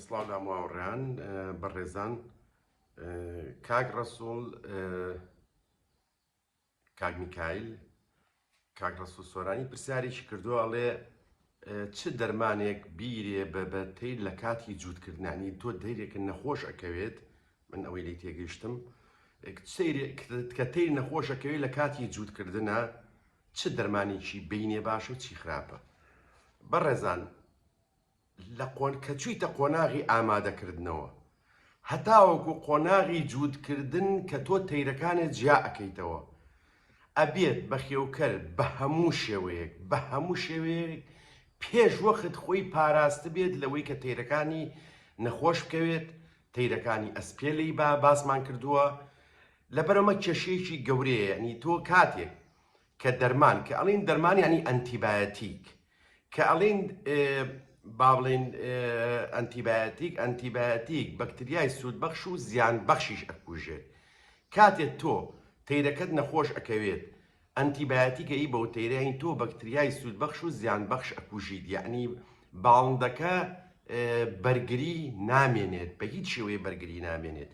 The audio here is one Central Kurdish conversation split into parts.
سڵاو لاماوەڕیان بەڕێزان کاک ڕسوڵ کاک میکایل کاک ڕسوڵ سۆرانی پرسیارێکی کردووە ئەڵێ چ دەرمانێک بیرێ بە بەتەی لە کاتی جووتکردنانی تۆ دەیرێکە نەخۆش ئەکەوێت من ئەوەی لی تێگەیشتم کە تیر نەخۆشەکەوێت لە کاتی جووتکردە چ دەرمانێکی بینێ باش و چی خراپە بەڕێزان لەکە چویتە قۆناغی ئامادەکردنەوە هەتاوەکو قۆناغی جووتکردن کە تۆ تەیرەکانت جیا ئەکەیتەوە ئەبێت بەخێوکەر بەهەموو شێوەیەک بەهەموو شێوەیەک پێش وەخت خۆی پاراست بێت لەوەی کە تەیرەکانی نەخۆش بکەوێت تەیرەکانی ئەسپێلەی با باسمان کردووە لەبەرەمە کێشەیەکی گەورەیە ینی تۆ کاتێک کە دەرمان کە ئەڵین دەرمانیانی ئەنتیبایەتیک کە ئەڵێین با بڵێین ئەنتیبایەتیک، ئەنتیبایەتیک بەکتریای سوودبەخش و زیانبەخشیش ئەکوژێت. کاتێ تۆ تەیرەکەت نەخۆش ئەکەوێت، ئەنتیبایەتیک ئەیی بەو تەیرە، یانی تۆ بەکتریای سوودبەخش و زیانبەخش ئەکوژیت، یانی باڵندەکە بەرگری نامێنێت، بە هیچ شێوەیەک بەرگری نامێنێت.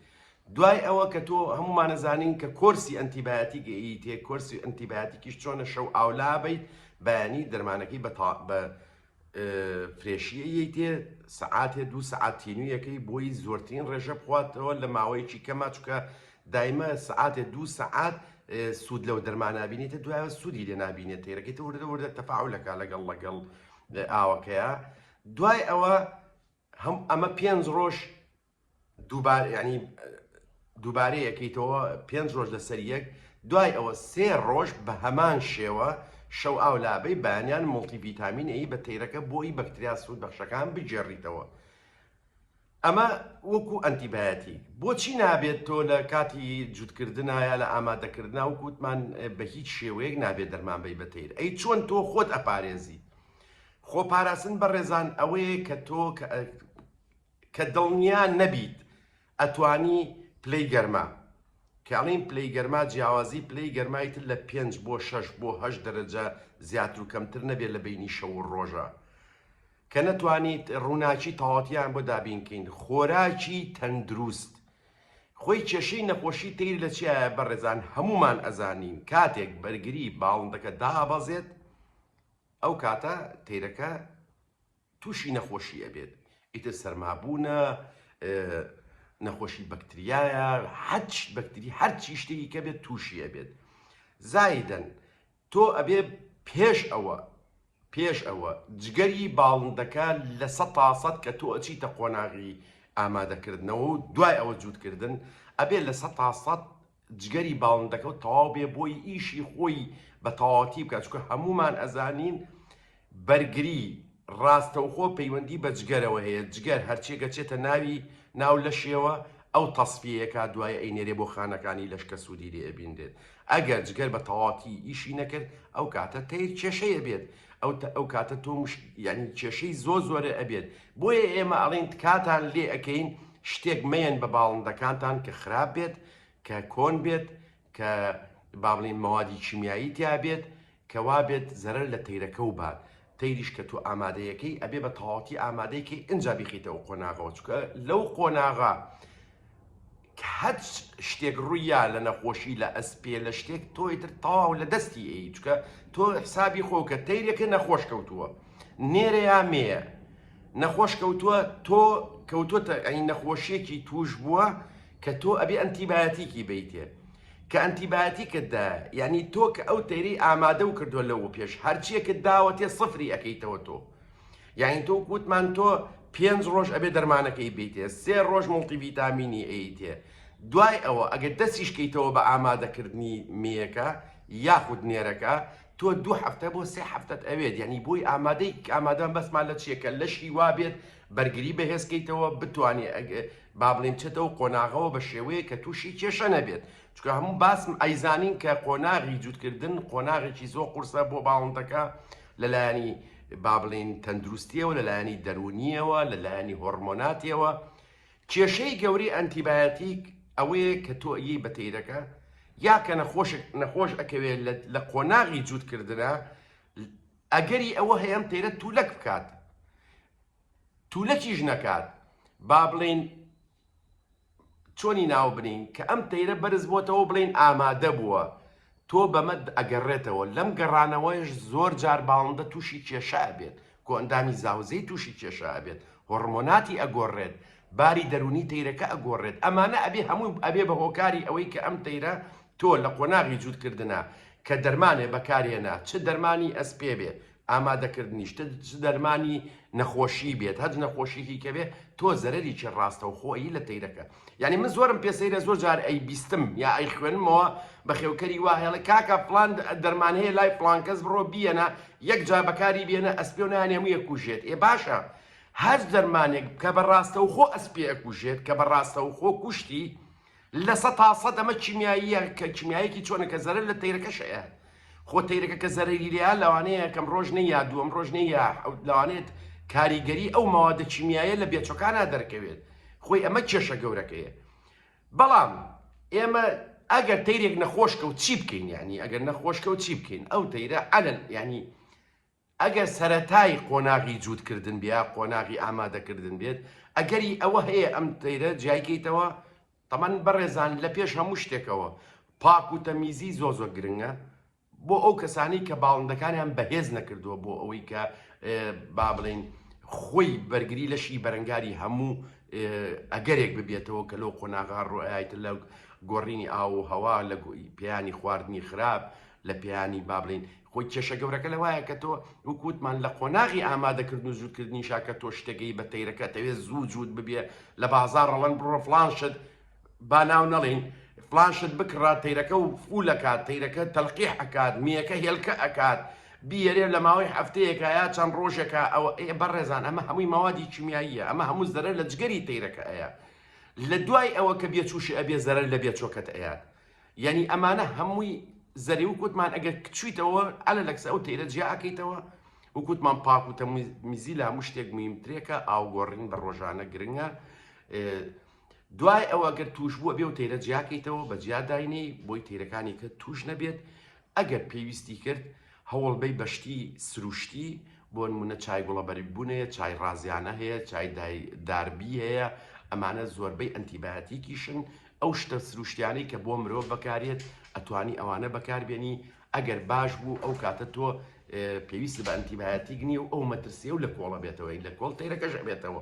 دوای ئەوە کە تۆ هەموومان ئەزانین کە کۆرسی ئەنتیبایاتیک ئەیتێ کۆرسی ئەنتیبایاتیکیش چۆنە شەو ئاولا بیت بەیانی دەرمانەکەی بە تا بە فرێشیەیەی تێ سەعاتێ دوو سەعاتینویەکەی بۆی زۆرترین ڕێژە بخواتەوە لە ماوەیەکی کەما چکە دایمە سەعاتێ دوو سەعات سوود لەو دەرمانابینێتە دوایە سوودی لێ نابینێت تێرەکەی تە وردە وردە تەفاعلەکە لەگەڵ لەگەڵ ئاوەکەیە دوای ئەوە هەم ئەمە پێنج ڕۆژ دووبارە یانی دووبارە یەکەیتەوە پێنج ڕۆژ لەسەر یەک دوای ئەوە سێ ڕۆژ بە هەمان شێوە شەو ئاو لابەی بەیانیان مڵتیڤیتامین ئەی بە تەیرەکە بۆی بەکتریا سوود بەخشەکان بگێڕیتەوە ئەمە وەکو ئەنتیبایەتی بۆچی نابێت تۆ لە کاتی جووتکردنایە لە ئامادەکردنا و کووتمان بە هیچ شێوەیەک نابێت دەرمان بی بەتیر ئەی چۆن تۆ خۆت ئەپارێزی خۆ پاراستن بە ڕێزان ئەوەیە کە تۆ کە دڵنیا نەبیت ئەتوانی پلەی گەرما، کە ئەڵێین پلەی گەرما جیاوازی پلەی گەرمای تر لە پێنج بۆ شەش بۆ هەشت دەرەجە زیاتر و کەمتر نەبێت لە بەینی شەو و ڕۆژە، کە نەتوانیت ڕووناکی تەواوتیان بۆ دابین کەین. خۆراکی تەندروست خۆی کێشەی نەخۆشی تەیر لە چیایە بەڕێزان هەموومان ئەزانین کاتێک بەرگری باڵندەکە دابەزێت ئەو کاتە تەیرەکە. توشی نەخۆشی ئەبێت ئیتر سەرما بوونە نەخۆشی بەکتریایە حەچ بەکتری هەرچی شتێکی کە بێت تووشی ئەبێت زایدەن تۆ ئەبێ پێش ئەوە پێش ئەوە جگەری باڵندەکە لە سە تاسەد کە تۆ ئەچیتە قۆناغی ئامادەکردنەوە و دوای ئەوە جووتکردن ئەبێ لە سە تاسەد جگەری باڵندەکە و تەواو بێ بۆی ئیشی خۆی بە تەواوەتی بکات چونکە هەموومان ئەزانین بەرگری ڕاستەوخۆ پەیوەندی بە جگەرەوە هەیە جگەر هەرچێکە چێتە ناوی ناو لەشێوە ئەو تەسفیەکە دوای ئەینێرێ بۆ خانەکانی لەش کە سوودی لێ ئەبینرێت ئەگەر جگەر بە تەواتی ئیشی نەکرد ئەو کاتە تەیر کێشەیە بێت ئەو ئەو کاتە تۆ مش یعنی کێشەی زۆر زۆرە ئەبێت بۆیە ئێمە ئەڵین تکاتان لێ ئەەکەین شتێک مەیەن بە باڵندەکانتان کە خراپ بێت، کە کۆن بێت، کە با بڵێین مەوادی کیمیایی تیا بێت، کە وا بێت زەرەر لە تەیرەکەو بات، تەیریش کە تۆ ئامادەی ئەکەی ئەبێ بە تەواوەتی ئامادەی کەی ئنجا بیخەیتە ئەو قۆناغەوە، چونکە لەو قۆناغە کە هەچ شتێک ڕوویا لە نەخۆشی لە ئەسپێ لە شتێک تۆ ئیتر تەواو لە دەستی ئەی، چونکە تۆ حسابی خۆ کە تەیرێکە نەخۆش کەوتووە نێرە یا مێیە، نەخۆش کەوتووە تۆ کەوتۆتە ئەین نەخۆشیەکی توش بووە کە تۆ ئەبێ ئەنتیباتیکی بیتێ کە ئەنتیباتیکتدا یعنی تۆ کە ئەو تەیری ئامادە و کردووە لەو پێش هەرچیەکت داوە تێ سفری ئەەکەیتەوە تۆ یعنی تۆ کووتمان تۆ پێنج ڕۆژ ئەبێ دەرمانەکەی بیتێ سێ ڕۆژ مڵتی ڤیتامینی ئەیتێ دوای ئەوە ئەگەر دەستیشکەیتەوە بە ئامادەکردنی مێەکە یاخود نێرەکە تۆ دوو هەفتە بۆ سێ هەفتەت ئەوێت یەعنی بۆی ئامادەی ئامادەم بەسمان لە چیە کە لەشی وابێت بەرگری بەهێزکەیتەوە بتوانێ بابلین بچێتەوە قۆناغەوە بە شێوەیە کە تووشی کێشە نەبێت چکە هەموو باسم ئەیزانین کە قۆناغی جووتکردن قۆناغێکی زۆر قورسە بۆ باڵندەکە لەلایەنی بابلین تەندروستیەوە لەلایەنی دەرونیەوە لەلایەنی هۆرمۆناتیەوە کێشەی گەورەی ئەنتیبایەتیک ئەوەیە کە تۆ ئەیەی بە تەیرەکە یا کە نەخۆشێک نەخۆش ئەکەوێت لە قۆناغی جووتکردنە ئەگەری ئەوە هەیە ئەم تەیرە تولەک بکات تولەکیش نەکات با بڵین چۆنی ناو بنین کە ئەم تەیرە بەرز بۆتەوە بڵین ئامادە بووە تۆ بەمە ئەگەڕێتەوە، لەم گەڕانەوەیش زۆر جار باڵندە تووشی کێشە ئەبێت، کۆئەندامی زاوزێی تووشی کێشە ئەبێت، هۆڕمۆناتی ئەگۆڕێت، باری دەروونی تەیرەکە ئەگۆڕێت، ئەمانە ئەبێ هەمووی ئەبێ بە هۆکاری ئەوەی کە ئەم تەیرە تۆ لە قۆناغی جووتکردنا کە دەرمانێ بەکارهێنا، چ دەرمانی ئەسپێ بێ، ئامادەکردنی شتت چ دەرمانی نەخۆشی بێت هەج نەخۆشیکی کەبێ تۆ زەرەریی ڕاستەو خۆ ئەیی لە تەیرەکە یانی من زۆرم پێ سەیرە زۆر جار ئەی بیستم یا ئەی خوێنمەوە بە خێوکەری وا هێڵێ کاکە فڵان دەرمان هەیە لای فڵان کەس بڕۆ بیەنە یەک جا بەکاری بێنە ئەسپێ و نانێ هەموو یەکوژێت ئێ باشە هەر دەرمانێک کە بە ڕاستەو خۆ ئەسپێ ئەکوژێت کە بە ڕاستەو خۆ کوشتی لە سە تا سە دەمە کیمیاییە کە کیمیایەکی چۆنە کە زەرەر لە تەیرەکە شەیە خۆ تەیرەکە کە زەرەری لێیا لەوانەیە کەم ڕۆژ نەیا دووەم ڕۆژ نەیا لەوانێت کاریگەری ئەو مەوادە کیمیایە لە بێچەکانە دەرکەوێت خۆی ئەمە کێشە گەورەکەیە بەڵام ئێمە ئەگەر تەیرێک نەخۆشکە و چی بکەین ینی ئەگەر نەخۆشکە و چی بکەین ئەو تەیرە عەلەن ینی ئەگەر سەرەتای قۆناغی جووتکردن بێ یا قۆناغی ئامادەکردن بێت ئەگەری ئەوە هەیە ئەم تەیرە جیایکەیتەوە تەمان بەڕێزان لە پێش هەموو شتێکەوە پاک و تەمیزی زۆر زۆر گرنگە بۆ ئەو کەسانی کە باڵندەکانیان بەهێز نەکردووە بۆ ئەوەی کە با بڵین خۆی بەرگری لەشی بەرەنگاری هەموو ئەگەرێک ببێتەوە کە لەو قۆناغا ڕۆایت لە گۆڕینی ئاو و هەوا لە پیانی خواردنی خراپ لە پیانی بابلین خۆی کێشە گەورەکە لەوایە کە تۆ وەکو وتمان لە قۆناغی ئامادەکردن و جووتکردنیشا کە تۆ شتێگەی بە تەیرەکە ئەتەوێ زوو جووت ببێ لە بازاڕ ئەڵەن بڕۆ فڵان شت با ناو نەڵێین فڵان شت بکڕە تەیرەکە و فول ئەکات تەیرەکە تەلقیح ئەکات مێیەکە هێلکە ئەکات بیەرێ لە ماوەی هەفتەیەکە یا چەند ڕۆژێکە ئەو ئێ بەڕێزان ئەمە هەمووی مەوادی کیمیاییە ئەمە هەموو زەرەر لە جگەری تەیرەکە ئەیە لە دوای ئەوە کە بێچووشی ئەبێ زەرەر لە بێچۆکەت ئەیات یەنی ئەمانە هەمووی زەرێ و کوتمان ئەگەر کچویتەوە ئەلە لەکسە ئەو تەیرە جیا ئەکەیتەوە وکوتمان پاک و تەمیزی لە هەموو شتێک مهمترێکە ئاوگۆڕین بە ڕۆژانە گرنگە دوای ئەوە گەر توش بووە بێ و تەیرە جیاکەیتەوە بە جیاداینەی بۆی تیرەکانی کە توش نەبێت ئەگەر پێویستی کرد هەوڵبەی بە شتی سروشتی بۆنمونە چای گوڵەبەرگ بوون هەیە چای ڕازیانە هەیە چای دای داربی هەیە ئەمانە زۆربەی ئەنتیباتیکیشن ئەو شتە سروشتیانەی کە بۆ مرۆڤ بەکارێت ئەتوانی ئەوانە بەکاربێنی ئەگەر باش بوو ئەو کاتە تۆ پێویست بە ئەنتیبایەتیک نیە و ئەو مەترسیە و لە کۆڵە بێتەوەی لە کۆڵ تەیرەکەش بێتەوە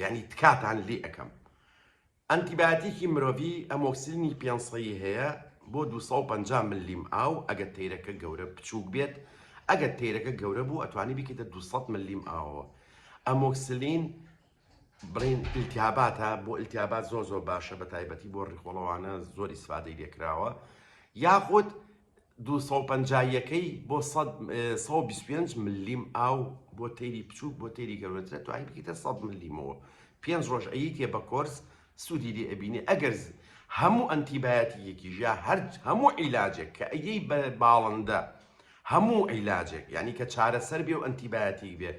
یەعنی تکاتان لێ ئەکەم ئەنتی بایۆتیکی مرۆڤی ئەمۆکسلینی پێنج سەیی هەیە بۆ دوو سەد و پەنجا ملیم ئاو ئەگەر تەیرەکە گەورە بچووک بێت ئەگەر تەیرەکە گەورە بوو ئەتوانی بیکەیتە دوو سەد ملیم ئاوەوە ئەمۆکسلین بڵین ئیلتیاباتە بۆ ئیلتیابات زۆر زۆر باشە بە تایبەتی بۆ ڕیخۆڵەوانە زۆر ئیسفادەی لێکراوە یاخود دوو سەد و پەنجا یەکەی بۆ سەد سەد و بیست و پێنج ملیم ئاو بۆ تەیری بچووک بۆ تەیری گەورەترە توانی بکەیتە سەد ملیمەوە پێنج ڕۆژ ئەیتێ بە کۆرس سوودی لێ ئەبینێ ئەگەر ز- هەموو ئەنتیبایەتیەکی ژا هەر هەموو عیلاجێک کە ئەیەی بە باڵندە هەموو عیلاجێک یعنی کە چارەسەر بێ و ئەنتیبایەتیک بێ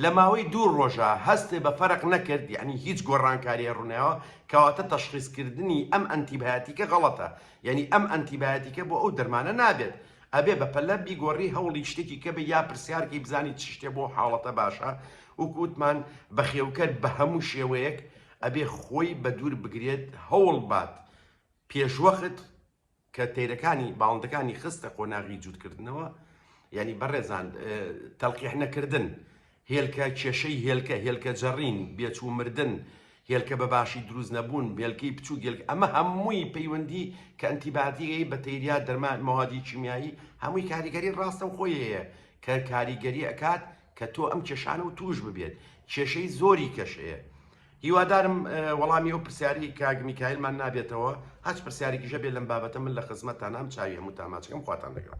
لە ماوەی دوو ڕۆژە هەستێ بە فەرق نەکرد یعنی هیچ گۆڕانکاریە ڕوونیەوە کەواتە تەشخیصکردنی ئەم ئەنتیبایەتیکە غەڵەتە یەنی ئەم ئەنتیبایەتیکە بۆ ئەو دەرمانە نابێت ئەبێ بەپەلە بیگۆری هەوڵی شتێکی کەبێ یا پرسیارکەی بزانی چ شتێ بۆ حاڵەتە باشە وەکو وتمان بەخێوکەر بە هەموو شێوەیەک ئەبێ خۆی بە دوور بگرێت هەوڵ بات پێشوەخت کە تەیرەکانی باڵندەکانی خستە قۆناغی جووتکردنەوە یەنی بەڕێزان تەلقیح نەکردن هێلکە کێشەی هێلکە، هێلکە جەڕین، بێچ و مردن، هێلکە بە باشی دروست نەبوون، هێلکەی بچووک، هێلکە ئەمە هەمووی پەیوەندی کە ئەنتیباتیکەی، بەتەیریا، دەرمان، مەوادی کیمیایی هەمووی کاریگەری ڕاستەوخۆی هەیە کە کاریگەری ئەکات کە تۆ ئەم کێشانە و تووش ببێت کێشەی زۆری کەش هەیە. هیوادارم وەڵامی ئەو پرسیارەی کاک میکایلمان نابێتەوە هەچ پرسیارێکیش هەبێت لەم بابەتە من لە خزمەتتانام چاوی هەمووتان ماچ ئەکەم خواتان لەگەڵ.